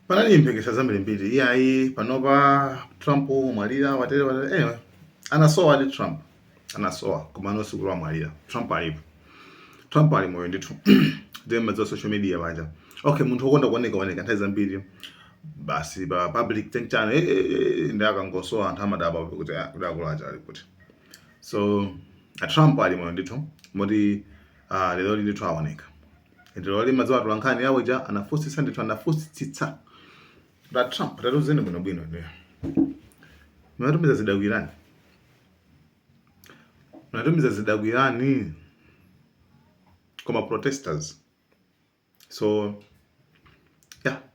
Panali mphekesa zambiri mbiri iyayi panopa Trump wamwalira watere watere anyway anasowadi Trump anasowa koma no sikuti amwalira Trump alipo Trump ali moyo ndithu ndiye mwadziwa social media paja okay munthu wokonda kuoneka oneka nthawi zambiri basi pa public think channel eh, eh, eh, ndi akangosowa anthu amadabwa kuti ah, kuti akulacha ali kuti so a Trump ali moyo ndithu moti ah, lero ndithu aoneka ndilo lima za watu wankani yawo ja anafusitsa ndithu anafusitsitsa a Trump tatiuzeni bwino bwino ndiye munatumiza zida kwa Iran munatumiza zida kwa Iran kwa ma protesters so yeah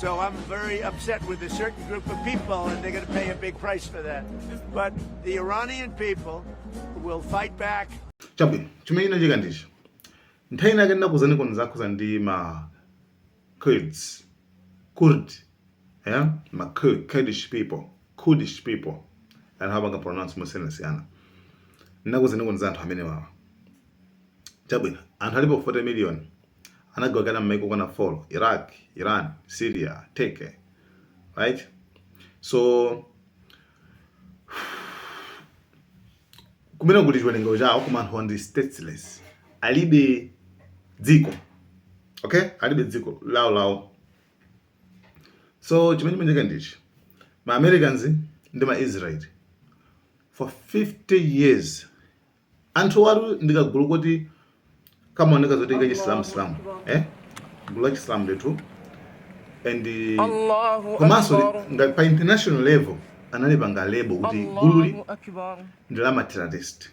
So I'm very upset with a certain group of people, and they're going to pay a big price for that. But the Iranian people will fight back. chabwino chimene chinachitika ndi ichi nthawi inake ndinakuuzaniko nkhani zokhudza ndi ma Kurds Kurd yeah? ma Kurdish people Kurdish people anthu amapanga pronounce mosiyanasiyana ndinakuuzaniko za anthu amenewawa chabwino anthu alipo 40 million anagawikana m'maiko okwana 4, Iraq, Iran, Syria, Turkey, right? So, ndi kumene kuli chiwerengero chawo koma anthuwa ndi stateless alibe dziko okay alibe dziko lawo lawo so chimene chimachitika ndi ichi ma Americans ndi ma Israel for 50 years Anthuwatu ndi kagulu koti kamaoneka ngati kachisilamusilamu eh? gulu lachisilamu ndithu and komanso ngati pa international level analipanga lebo kuti gululi ndi la ma terrorist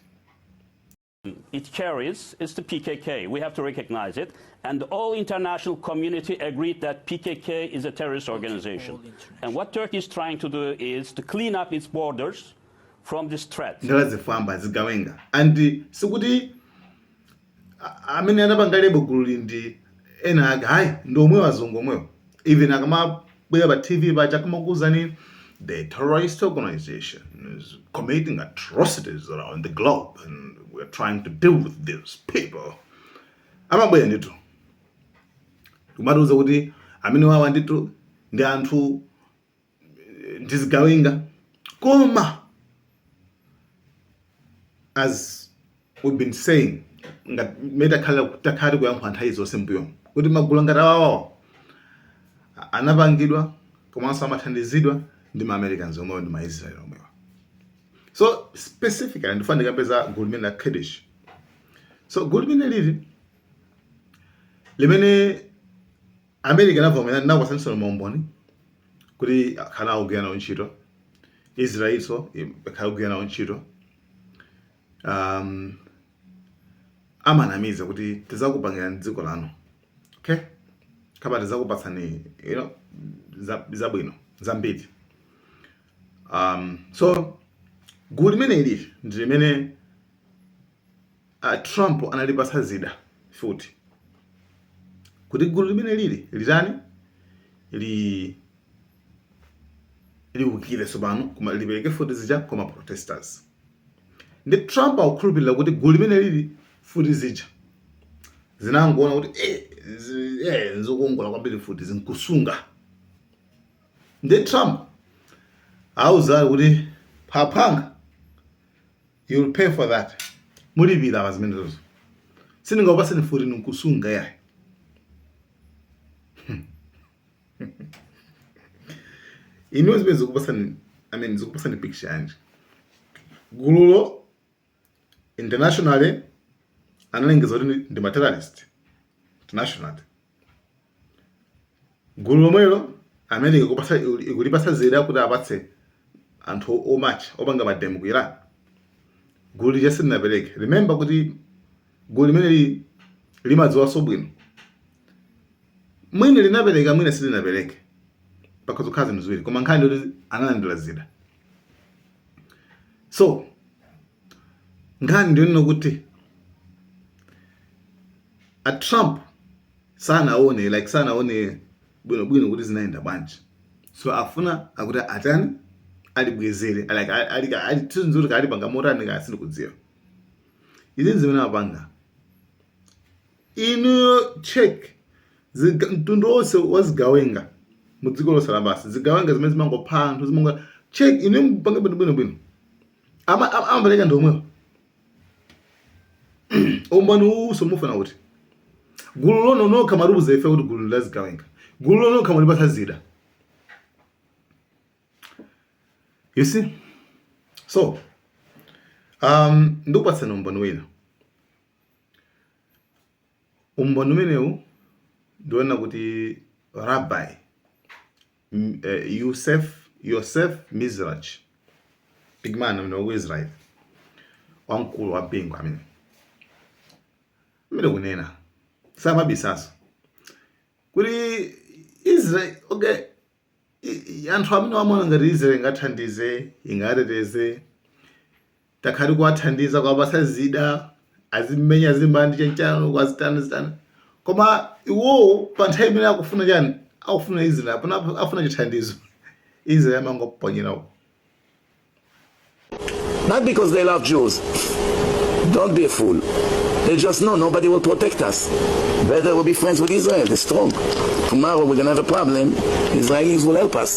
It carries is the PKK. We have to recognize it. And all international community agreed that PKK is a terrorist organization. And what Turkey is trying to do is to clean up its borders from these threats. Ndi la zifwamba zigawenga and sikuti a- amene anapanga lebo gululi ndi ena ake ayi ndi omwewo azungu omwewo even akamabwera pa tv paja kamakuuzani the terrorist organization is committing atrocities around the globe and we're trying to deal with these people amabwera ndithu kumatiuza kuti amenewawa ndithu ndi anthu ndi zigawenga koma as we've been saying ngati mmene takhala takhala tikuyankhula nthawi zonse m'mbuyomu kuti magulu ngati awawa anapangidwa komanso amathandizidwa ndi ma Americans omwewo ndi ma Israel omwewo so specifically ndifuna ndikambe za gulu limeneli la Kurdish so gulu limeneli ndi limene America inavomera ndinakupatsaniso maumboni kuti akhala akugwira nawo ntchito Israelso akhala akugwira nawo ntchito um, amanamiza kuti tizakupangirani dziko lanu okay kapena tizakupatsani you know zabwino za zambiri um so gulu limene ili ndi limene A Trump analipatsa zida futi kuti gulu limene lili litani li liukire tsopano koma lipereke futi zija kwa ma protesters. Ndi Trump akukhulupirira kuti gulu limene lili futi zija zinangoona kuti eh, zi- eh, nzokongola kwambiri futizi nkusunga. Ndi Trump auza kuti aphwanga you'll pay for that mulipira pa zimenezozo sindingakupaseni futi nkusunga yayi inuyo zimene zikupasani i mean zikupasani picture yanji gululo internationally analengeza kuti ndi ma terrorist internationally Gulu lomwelo America ikupasa, ikulipasa zida kuti apatse anthu omatcha opanga mademo ku Iran gulu lija silinapereke. Remember kuti gulu limeneli limadziwanso bwino, mwina linapereka mwina silinapereke, pakhoza kukhala zinthu ziwiri, koma nkhani ndi yoti analandira zida so nkhani ndiyonena kuti a trump sanaone like sanaone bwinobwino kuti zinayenda bwanji so afuna akuti atani alibwezere like alitinzuri kaya alipanga motani kaya sindikudziwa izi nzimene apanga inuyo check mtundu wonse wa zigawenga mu dziko lonse lapansi zigawenga zimene zimangopha anthu zimanga check inu mpange bwinobwino bwino Ama- ama- amapereka ndi omwewo umboni uwuso mufuna kuti gululo inu nokha mumatiuza ife kuti gulu lazigawenga gululo inu nokha mulipatsa zida you see so um, ndikupatsani umboni wina umboni umenewu ndi wonena kuti Rabbi Yusef Yosef Mizrachi big man amene wa ku Israel wamkulu wa mpingo amene mmene akunena samabisaso kuti Israel okay anthu amene amaona ngati Israel ingathandize ingateteze takhala tikuwathandiza kuwapatsa zida azimenya zimbandi chanichani kwazitani zitani koma iwowo pa nthawi imene akufuna chani akufuna israel apana afuna chithandizo israel amangoponyera uko Not because they love Jews. Don't be a fool. They just know nobody will protect us. Better we'll be friends with Israel. They're strong. Tomorrow we're going to have a problem. Israelis will help us.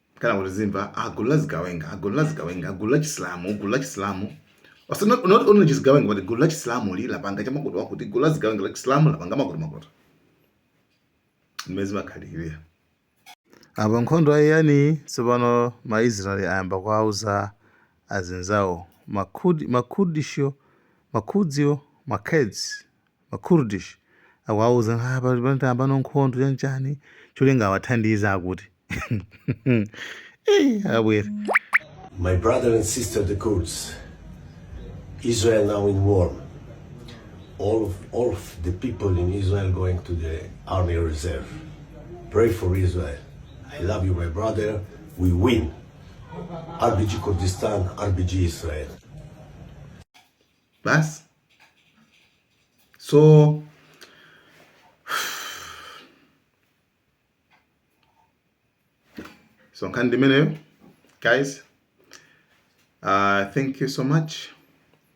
kenako tizimva agulu la zigawenga agulu la zigawenga agulu la chisilamu gulu la chisilamu Ose- not not only zigawenga but gulu la chisilamu li lapanga chakuti chakuti gulu la zigawenga la chisilamu lapanga makoto makoto mmene zimakhalira apa nkhondo ayiyamba tsopano maisraeli ayamba kuwauza azinzawo makhudi makhudisho makhudzio makhedzi ma Kurdish akuwauza kuti apa pano tayambano nkhondo chanchani cholinga awathandize akuti Eh, abwere My brother and sister, the Kurds, Israel now in war. All of, all of the people in Israel going to the army reserve. Pray for Israel. I love you, my brother. We win. RBG Kurdistan, RBG Israel. basi so so nkhani ndimeneyo guys uh, thank you so much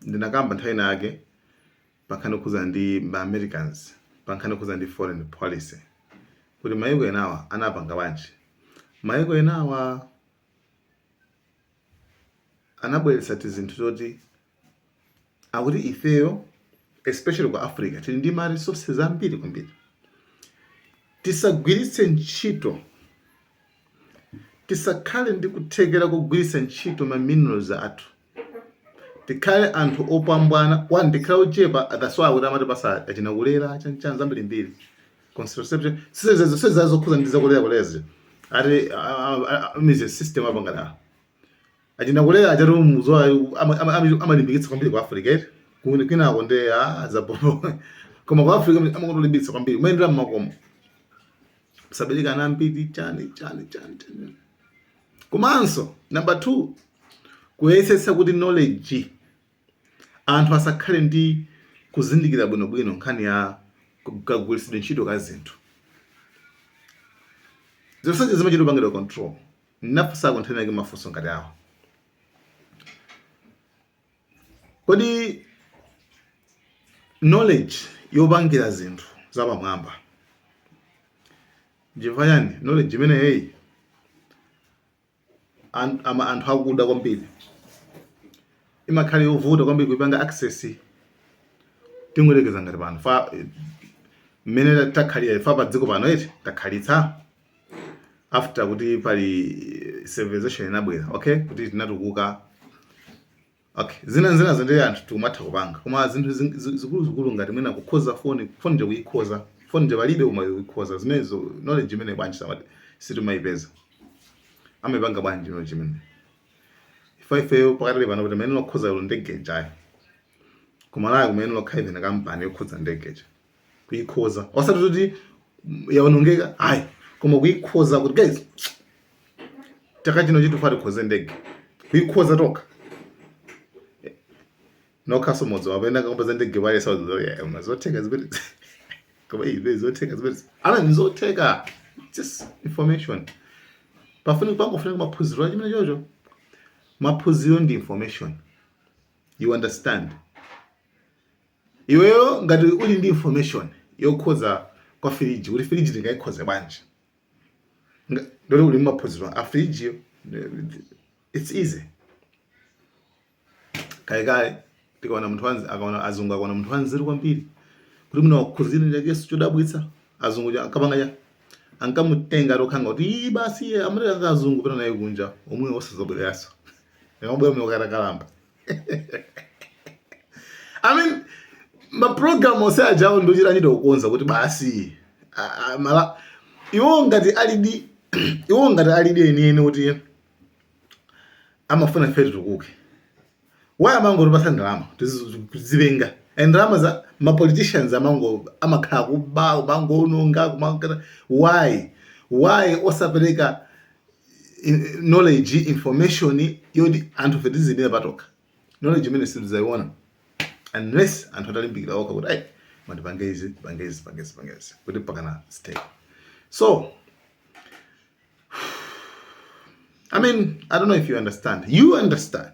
ndinakamba nthawi ina yake pankhani yokhudza ndi ma americans pankhani yokhudza ndi foreign policy kuti mayiko enawa anapanga bwanji mayiko enawa anabweretsa tizinthu toti akuti ifeyo especially ku Africa tili ndi ma resources ambiri kwambiri, tisagwiritse ntchito tisakhale ndi kuthekera kogwiritsa ntchito ma minerals athu tikhale anthu opambwana one tikhale ochepa that's why akuti amatipatsa achina kulera chanichani zambirimbiri contraception si izozo si zazokhudza ndi zakulera kulera eti mu ze system apangana achina kulera achani izo amalimbikitsa kwambiri ku Africa eti kwinako nde zapo koma ku Africa amalimbikitsa kwambiri kumayendera mmakomo musabereke ana ambiri chani chani chani chani komanso number 2 kuyesetsa kuti knowledge Anthu asakhale ndi kuzindikira bwinobwino nkhani ya kagwiritsidwe ntchito ka zinthu. Zonsezo zimachita kupangidwa control. Ndinafunsako nthawi inayake mafunso ngati awa. Kodi knowledge yopangira zinthu zapamwamba nchifukwa chani knowledge imeneyoyi an- ama- anthu akuda kwambiri imakhala yovuta kwambiri kuipanga access tingoyerekeza ngati pano fa eh, mmene ta- takhalira ife pa dziko pano eti takhalitsa after kuti pali eh, civilization inabwera okay kuti tinatukuka Ok zinazinazo ndiye anthu tikumatha kupanga koma zinthu zing- zi- zikuluzikulu ngati mwina kukhoza foni foni ija kuyikhoza foni ija palibe koma kuyikhoza zimenezo knowledge imeneyo bwanji samati sitimayipeza amaipanga bwanji knowledge imene ifa ifeyo pakadali pano kuti mayenela okhoza ilo ndege ija kuMalawi kumayenera kukhala ina kampani yokhoza ndege ija kuikhoza osati kuti yaonongeka ayi koma kuikhoza kuti guys chaka chino chi tufuna tikhoze ndege kuikhoza toka nokhaso modzi wapenda kakupeza ndege pale sauzoyama zotheka zimenezo koma ibe zotheka zimene ana ndi zotheka just information pafuni pangofunika maphunziro achimwene choncho maphunziro ndi information you understand Iweyo ngati uli ndi information yokhoza kwa firiji kuti firiji tingaikhoze bwanji nde kuti uli maphunziro a firiji it's easy kale kale tikaona munthu wanzi akaona azungu akaona munthu wanzeru kwambiri kuti mwina wakhoza chinachake chodabwitsa azungu akapanga ya ankamutenga atokhala ngati basi amene azungu pena naye kunja komwe osazobwereranso nkumabwera muno atakalamba I mean maprogramu onse ajawo nkuchita kuchita kukonza kuti basi mala iwo ngati alidi iwo ngati alidi enieni kuti amafuna ife titukuke why amangotipatsa ndalama tizipenga and ndalamazo mapoliticians amango amakhala akuba kumangoononga kumakana why why osapereka knowledge information yoti anthufe tiziyimira patokha knowledge imene sitidzayiona unless anthu atalimbikira okha kuti ayi man tipange izi tipange izi tipange izi tipange izi kuti pakana stay so I mean, I don't know if you understand. You understand.